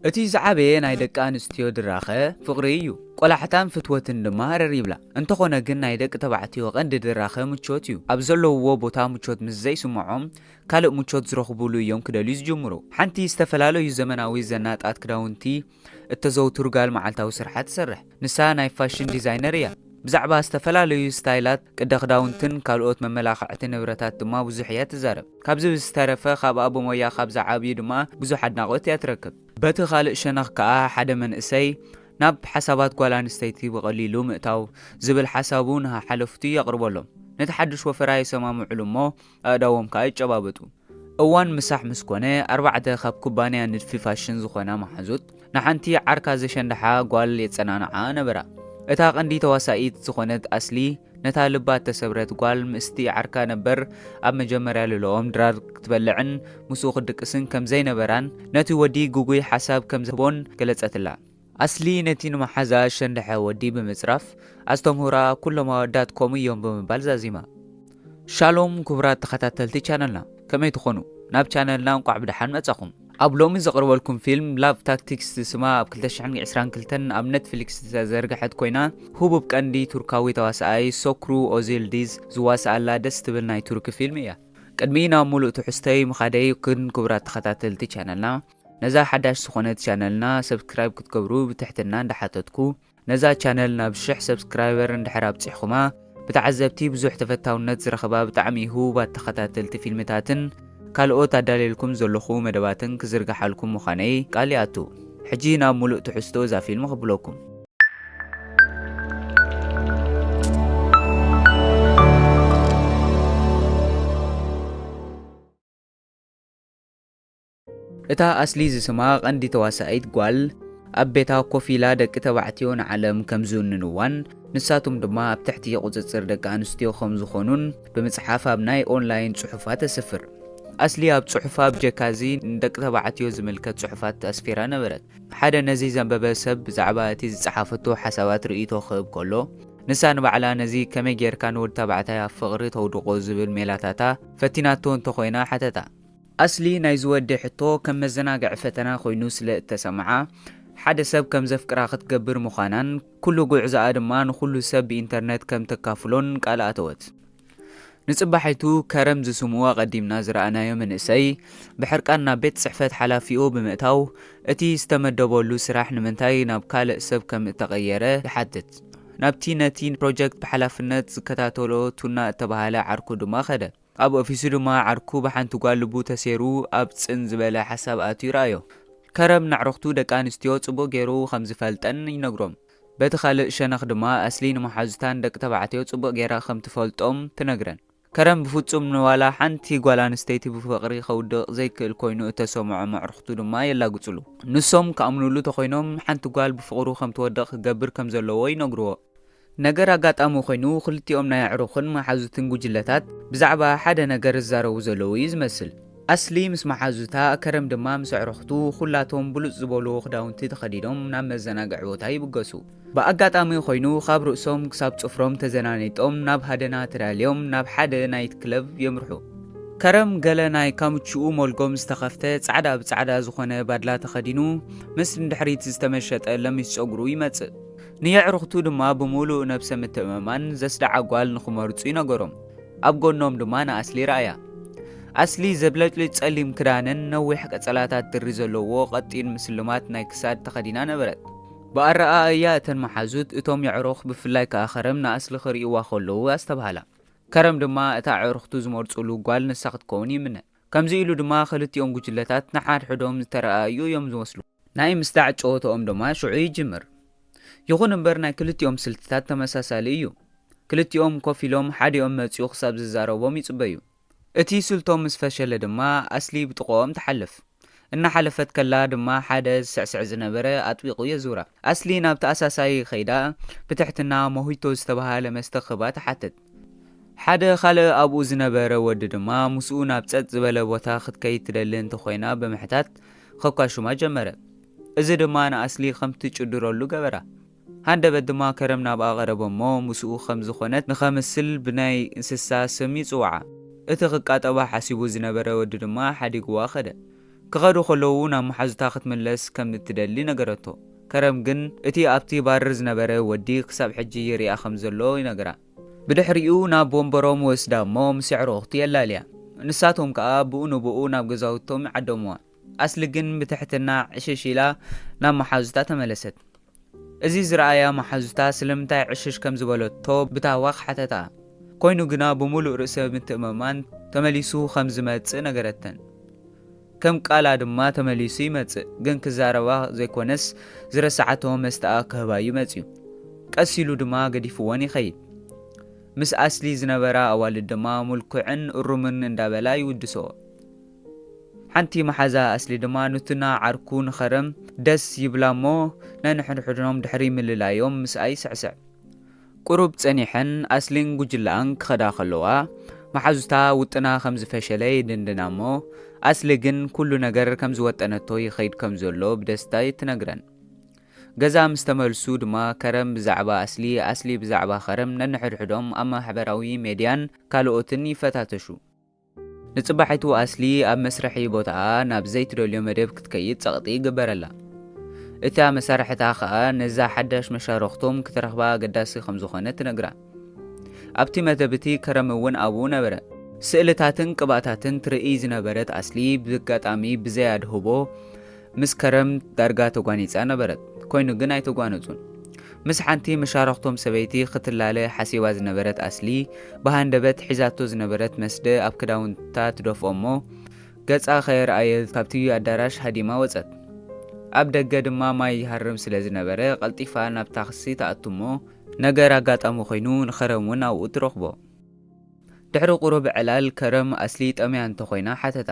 እቲ ዝዓበየ ናይ ደቂ ኣንስትዮ ድራኸ ፍቕሪ እዩ፣ ቆላሕታን ፍትወትን ድማ ረር ይብላ። እንተኾነ ግን ናይ ደቂ ተባዕትዮ ቀንዲ ድራኸ ምቾት እዩ። ኣብ ዘለውዎ ቦታ ምቾት ምስ ዘይስምዖም ካልእ ምቾት ዝረኽቡሉ እዮም ክደልዩ ዝጅምሩ። ሓንቲ ዝተፈላለዩ ዘመናዊ ዘናጣት ክዳውንቲ እተዘውትር ጋል መዓልታዊ ስርሓ ትሰርሕ። ንሳ ናይ ፋሽን ዲዛይነር እያ። ብዛዕባ ዝተፈላለዩ ስታይላት፣ ቅደ ክዳውንትን ካልኦት መመላኽዕቲ ንብረታት ድማ ብዙሕ እያ ትዛረብ። ካብዚ ብዝተረፈ ካብኣ ብሞያ ካብ ዝዓብዩ ድማ ብዙሕ ኣድናቖት እያ ትረክብ። በቲ ካልእ ሸነኽ ከኣ ሓደ መንእሰይ ናብ ሓሳባት ጓል ኣንስተይቲ ብቐሊሉ ምእታው ዝብል ሓሳቡ ንሓሓለፉቱ የቕርበሎም። ነቲ ሓድሽ ወፈራ የሰማምዑሉ እሞ ኣእዳዎም ከኣ ይጨባበጡ። እዋን ምሳሕ ምስ ኮነ፣ ኣርባዕተ ካብ ኩባንያ ንድፊ ፋሽን ዝኾና መሓዙት፣ ንሓንቲ ዓርካ ዘሸንድሓ ጓል የጸናንዓኣ ነበራ። እታ ቀንዲ ተዋሳኢት ዝኾነት ኣስሊ፣ ነታ ልባ እተሰብረት ጓል ምስ'ቲ ዓርካ ነበር ኣብ መጀመርያ ልልኦም ድራር ክትበልዕን ምስኡ ክትድቅስን ከም ዘይነበራን ነቲ ወዲ ግጉይ ሓሳብ ከም ዝህቦን ገለጸትላ። ኣስሊ ነቲ ንመሓዛኣ ዝሸንደሐ ወዲ ብምጽራፍ፣ ኣስተምህሮኣ ኩሎም ኣወዳት ከምኡ እዮም ብምባል ዛዚማ። ሻሎም ክቡራት ተኸታተልቲ ቻነልና ከመይ ትኾኑ ናብ ቻነልና እንቋዕ ብደሓን መጻኹም። ኣብ ሎሚ ዘቕርበልኩም ፊልም Love Tactics ዝስማ ኣብ ክልተ ሽሕን ዕስራን ክልተን ኣብ ነትፍሊክስ ዝተዘርግሐት ኮይና ህቡብ ቀንዲ ቱርካዊ ተዋሳኣይ ሶክሩ ኦዚልዲዝ ዝዋሳኣላ ደስ ትብል ናይ ቱርኪ ፊልም እያ። ቅድሚ ናብ ሙሉእ ትሕዝቶይ ምኻደይ ግን ክቡራት ተኸታተልቲ ቻነልና፣ ነዛ ሓዳሽ ዝኾነት ቻነልና ሰብስክራይብ ክትገብሩ ብትሕትና እንዳሓተትኩ ነዛ ቻነል ናብ ሽሕ ሰብስክራይበር እንድሕር ኣብጺሕኹማ ብተዓዘብቲ ብዙሕ ተፈታውነት ዝረኸባ ብጣዕሚ ህቡባት ተኸታተልቲ ፊልምታትን ካልኦት ኣዳልየልኩም ዘለኹ መደባትን ክዝርግሓልኩም ምዃነይ ቃል ይኣቱ። ሕጂ ናብ ሙሉእ ትሕዝቶ እዛ ፊልም ክብለኩም። እታ ኣስሊ ዝስማ ቀንዲ ተዋሳኢት ጓል ኣብ ቤታ ኮፍ ኢላ ደቂ ተባዕትዮ ንዓለም ከም ዝውንንዋን ንሳቶም ድማ ኣብ ትሕቲ ቁጽጽር ደቂ ኣንስትዮ ከም ዝኾኑን ብምጽሓፍ ኣብ ናይ ኦንላይን ጽሑፋ ተስፍር። ኣስሊ ኣብ ጽሑፋ ብጀካ እዚ ንደቂ ተባዕትዮ ዝምልከት ጽሑፋት ኣስፊራ ነበረት። ሓደ ነዚ ዘንበበ ሰብ ብዛዕባ እቲ ዝጸሓፈቶ ሓሳባት ርእይቶ ክህብ ከሎ፣ ንሳ ንባዕላ ነዚ ከመይ ጌርካ ንወዲ ተባዕታይ ኣብ ፍቕሪ ተውድቖ ዝብል ሜላታታ ፈቲናቶ እንተኾይና ሓተታ። ኣስሊ ናይዚ ወዲ ሕቶ ከም መዘናግዒ ፈተና ኮይኑ ስለ እተሰምዓ፣ ሓደ ሰብ ከም ዘፍቅራ ክትገብር ምዃናን ኩሉ ጉዕዞኣ ድማ ንኹሉ ሰብ ብኢንተርነት ከም ተካፍሎን ቃል ኣተወት። ንጽባሒቱ ከረም ዝስሙ ኣቐዲምና ዝረኣናዮ መንእሰይ ብሕርቃን ናብ ቤት ጽሕፈት ሓላፊኡ ብምእታው እቲ ዝተመደበሉ ስራሕ ንምንታይ ናብ ካልእ ሰብ ከም እተቐየረ ይሓትት። ናብቲ ነቲ ፕሮጀክት ብሓላፍነት ዝከታተሎ ቱና እተባህለ ዓርኩ ድማ ከደ። ኣብ ኦፊሱ ድማ ዓርኩ ብሓንቲ ጓል ልቡ ተሴሩ ኣብ ጽን ዝበለ ሓሳብ ኣትዩ ረኣዮ። ከረን ነዕርኽቱ ደቂ ኣንስትዮ ጽቡቕ ገይሩ ከም ዝፈልጠን ይነግሮም። በቲ ካልእ ሸነኽ ድማ ኣስሊ ንመሓዙታ ንደቂ ተባዕትዮ ጽቡቕ ገይራ ከም ትፈልጦም ትነግረን። ከረን ብፍጹም ንዋላ ሓንቲ ጓል ኣንስተይቲ ብፍቕሪ ከውድቕ ዘይክእል ኮይኑ እተሰምዖም ኣዕርኽቱ ድማ የላግጹሉ። ንሶም ክኣምኑሉ ተኾይኖም ሓንቲ ጓል ብፍቕሩ ከም ትወድቕ ክገብር ከም ዘለዎ ይነግርዎ። ነገር ኣጋጣሚ ኾይኑ ኽልቲኦም ናይ ኣዕሩኽን መሓዙትን ጉጅለታት ብዛዕባ ሓደ ነገር ዝዛረቡ ዘለዉ እዩ ዝመስል። ኣስሊ ምስ መሓዙታ፣ ከረም ድማ ምስ ኣዕሩኽቱ ኹላቶም ብሉጽ ዝበልዎ ኽዳውንቲ ተኸዲኖም ናብ መዘናግዒ ቦታ ይብገሱ። ብኣጋጣሚ ኾይኑ ኻብ ርእሶም ክሳብ ጽፍሮም ተዘናኒጦም ናብ ሃደና ተዳልዮም ናብ ሓደ ናይት ክለብ የምርሑ። ከረም ገለ ናይ ካምችኡ ሞልጎም ዝተኸፍተ ጻዕዳ ብጻዕዳ ዝኾነ ባድላ ተኸዲኑ ምስ ንድሕሪት ዝተመሸጠ ለሚስ ጸጉሩ ይመጽእ። ንየዕሩኽቱ ድማ ብምሉእ ነብሰ ምትእምማን ዘስደዓ ጓል ንኽመርጹ ይነገሮም። ኣብ ጎኖም ድማ ንኣስሊ ረኣያ። ኣስሊ ዘብለጭልጭ ጸሊም ክዳንን ነዊሕ ቀጸላታት ድሪ ዘለዎ ቀጢን ምስልማት ናይ ክሳድ ተኸዲና ነበረት። ብኣረኣእያ እተን መሓዙት እቶም የዕሩኽ ብፍላይ ከኣ ከረም ንኣስሊ ክርእይዋ ከለዉ ኣስተብሃላ። ከረም ድማ እታ ኣዕሩኽቱ ዝመርጹሉ ጓል ንሳ ክትከውን ይምነ። ከምዚ ኢሉ ድማ ክልቲኦም ጉጅለታት ንሓድሕዶም ዝተረኣኣዩ እዮም ዝመስሉ። ናይ ምስጣዕ ጨወትኦም ድማ ሽዑ ይጅምር። ይኹን እምበር ናይ ክልቲኦም ስልትታት ተመሳሳሊ እዩ። ክልቲኦም ኮፍ ኢሎም ሓዲኦም መጺኡ ክሳብ ዝዛረቦም ይጽበዩ። እቲ ስልቶም ምስ ፈሸለ ድማ ኣስሊ ብጥቕኦም ትሓልፍ። እናሓለፈት ከላ ድማ ሓደ ዝስዕስዕ ዝነበረ ኣጥቢቑ የዙራ። ኣስሊ ናብቲ ኣሳሳዪ ከይዳ ብትሕትና ሞሂቶ ዝተበሃለ መስተ ክህባ ትሓትት። ሓደ ኻልእ ኣብኡ ዝነበረ ወዲ ድማ ምስኡ ናብ ጸጥ ዝበለ ቦታ ክትከይድ ትደሊ እንተኾይና ብምሕታት ኸኳሹማ ጀመረ። እዚ ድማ ንኣስሊ ኸም ትጭድረሉ ገበራ። ሃንደበት ድማ ከረም ናብኣ ቐረበ እሞ ምስኡ ኸም ዝኾነት ንኸምስል ብናይ እንስሳ ስም ይጽውዓ። እቲ ኽቃጠባ ሓሲቡ ዝነበረ ወዲ ድማ ሓዲግዋ ኸደ። ክኸዱ ኸለዉ ናብ መሓዙታ ኽትምለስ ከም እትደሊ ነገረቶ። ከረም ግን እቲ ኣብቲ ባርር ዝነበረ ወዲ ክሳብ ሕጂ ይርእያ ከም ዘሎ ይነግራ። ብድሕሪኡ ናብ ወንበሮም ወስዳ እሞ ምስ ኣዕሩኹቲ የላልያ። ንሳቶም ከኣ ብኡ ንብኡ ናብ ገዛውቶም ይዓደሙዋ። ኣስሊ ግን ብትሕትና ዕሽሽ ኢላ ናብ መሓዙታ ተመለሰት። እዚ ዝረኣያ መሓዙታ ስለምንታይ ዕሽሽ ከም ዝበለቶ ብታህዋኽ ሓተትኣ። ኮይኑ ግና ብምሉእ ርእሰ ምትእምማን ተመሊሱ ከም ዝመጽእ ነገረተን። ከም ቃላ ድማ ተመሊሱ ይመጽእ ግን ክዛረባ ዘይኮነስ ዝረሳዓቶ መስተኣ ክህባዩ መጽዩ ቀስ ኢሉ ድማ ገዲፍወን ይኸይድ ምስ ኣስሊ ዝነበራ ኣዋልድ ድማ ሙልኩዕን እሩምን እንዳበላ ይውድስኦ ሓንቲ መሓዛ ኣስሊ ድማ ኑትና ዓርኩ ንኸረም ደስ ይብላሞ ነንሕድሕዶም ድሕሪ ምልላዮም ምስኣ ይስዕስዕ ቁሩብ ጸኒሐን ኣስሊን ጉጅለኣን ክኸዳ ከለዋ፣ መሓዙታ ውጥና ከም ዝፈሸለ ይድንድና'ሞ፣ ኣስሊ ግን ኩሉ ነገር ከም ዝወጠነቶ ይኸይድ ከም ዘሎ ብደስታ ትነግረን። ገዛ ምስ ተመልሱ ድማ ከረን ብዛዕባ ኣስሊ፣ ኣስሊ ብዛዕባ ከረን ነንሕድሕዶም ኣብ ማሕበራዊ ሜድያን ካልኦትን ይፈታተሹ። ንጽባሒቱ ኣስሊ ኣብ መስርሒ ቦታኣ ናብ ዘይትደልዮ መደብ ክትከይድ ጸቕጢ ይግበረላ። እታ መሳርሕታ ከኣ ነዛ ሓዳሽ መሻርኽቶም ክትረኽባ ኣገዳሲ ከም ዝኾነ ትነግራ። ኣብቲ መደብ እቲ ከረም እውን ኣብኡ ነበረ። ስእልታትን ቅብኣታትን ትርእይ ዝነበረት ኣስሊ ብጋጣሚ ብዘይ ኣድህቦ ምስ ከረም ዳርጋ ተጓኒጻ ነበረት፣ ኮይኑ ግን ኣይተጓነጹን። ምስ ሓንቲ መሻርኽቶም ሰበይቲ ክትላለ ሓሲባ ዝነበረት ኣስሊ፣ ብሃንደበት ሒዛቶ ዝነበረት መስደ ኣብ ክዳውንታ ትደፍኦ'ሞ፣ ገጻ ከየርኣየ ካብቲ ኣዳራሽ ሃዲማ ወጸት። ኣብ ደገ ድማ ማይ ይሃርም ስለ ዝነበረ፣ ቀልጢፋ ናብ ታክሲ ትኣቱ'ሞ፣ ነገር ኣጋጣሚ ኮይኑ ንከረም ውን ኣብኡ ትረኽቦ። ድሕሪ ቁሩብ ዕላል ከረም ኣስሊ ጠምያ እንተ ኮይና ሓተታ።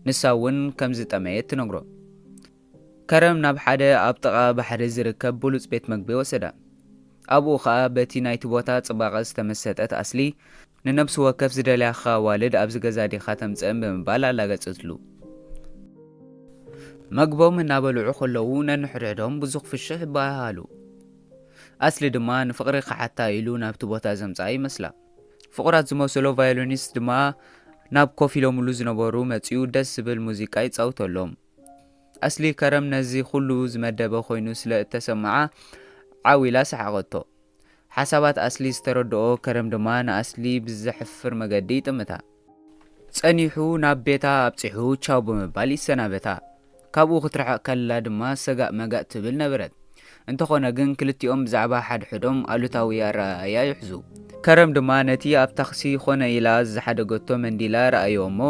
ንሳ እውን ከም ዝጠመየት ትነግሮ። ከረን ናብ ሓደ ኣብ ጥቓ ባሕሪ ዝርከብ ብሉጽ ቤት መግቢ ወሰዳ። ኣብኡ ኸኣ በቲ ናይቲ ቦታ ጽባቐ ዝተመሰጠት ኣስሊ፣ ንነብሲ ወከፍ ዝደልያካ ኣዋልድ ኣብዚ ገዛ ዲኻ ተምጽእን ብምባል ኣላገጸትሉ። መግቦም እናበልዑ ከለዉ ነንሕድሕዶም ብዙሕ ፍሽኽ ይበሃሃሉ። ኣስሊ ድማ ንፍቕሪ ክሓታ ኢሉ ናብቲ ቦታ ዘምጽኣ ይመስላ። ፍቑራት ዝመሰሎ ቫዮሊኒስት ድማ ናብ ኮፍ ኢሎምሉ ዝነበሩ መጺኡ ደስ ዝብል ሙዚቃ ይጻውተሎም። ኣስሊ ከረም ነዚ ኹሉ ዝመደበ ኮይኑ ስለ እተሰመዓ ዓው ኢላ ሰሓቐቶ። ሓሳባት ኣስሊ ዝተረድኦ ከረም ድማ ንኣስሊ ብዘሕፍር መገዲ ይጥምታ። ጸኒሑ ናብ ቤታ ኣብጺሑ ቻው ብምባል ይሰናበታ። ካብኡ ክትርሕቕ ከላ ድማ ሰጋእ መጋእ ትብል ነበረት። እንተኾነ ግን ክልቲኦም ብዛዕባ ሓድሕዶም ኣሉታዊ ኣረኣእያ ይሕዙ። ከረም ድማ ነቲ ኣብ ታክሲ ኮነ ኢላ ዝሓደገቶ መንዲላ ረኣዮ እሞ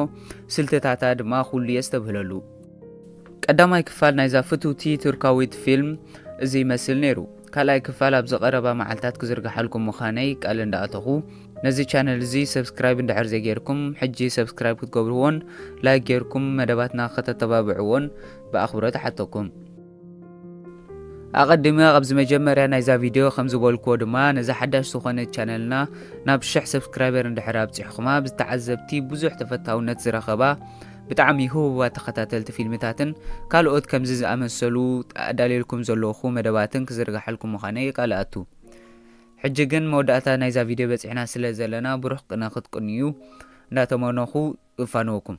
ስልትታታ ድማ ኩሉ የስተብህለሉ። ቀዳማይ ክፋል ናይዛ ፍትውቲ ቱርካዊት ፊልም እዚ ይመስል ነይሩ። ካልኣይ ክፋል ኣብዚ ቀረባ መዓልታት ክዝርግሓልኩም ምዃነይ ቃል እንዳኣተኹ ነዚ ቻነል እዚ ሰብስክራይብ እንድሕር ዘይጌርኩም ሕጂ ሰብስክራይብ ክትገብርዎን ላይክ ጌርኩም መደባትና ከተተባብዕዎን ብኣኽብሮት እሓተኩም። ኣቐዲመ ኣብዚ መጀመርያ ናይዛ ቪድዮ ከም ዝበልክዎ ድማ ነዛ ሓዳሽ ዝኾነት ቻነልና ናብ ሽሕ ሰብስክራይበር እንድሕር ኣብጺሕኹማ ብዝተዓዘብቲ ብዙሕ ተፈታውነት ዝረኸባ ብጣዕሚ ህቡባት ተኸታተልቲ ፊልምታትን ካልኦት ከምዚ ዝኣመሰሉ ኣዳልየልኩም ዘለኹ መደባትን ክዝርጋሓልኩም ምዃነይ የቃልኣቱ። ሕጂ ግን መወዳእታ ናይዛ ቪድዮ በጺሕና ስለ ዘለና ብሩኽ ቅነ ክትቅንዩ እንዳተመነኹ እፋነወኩም።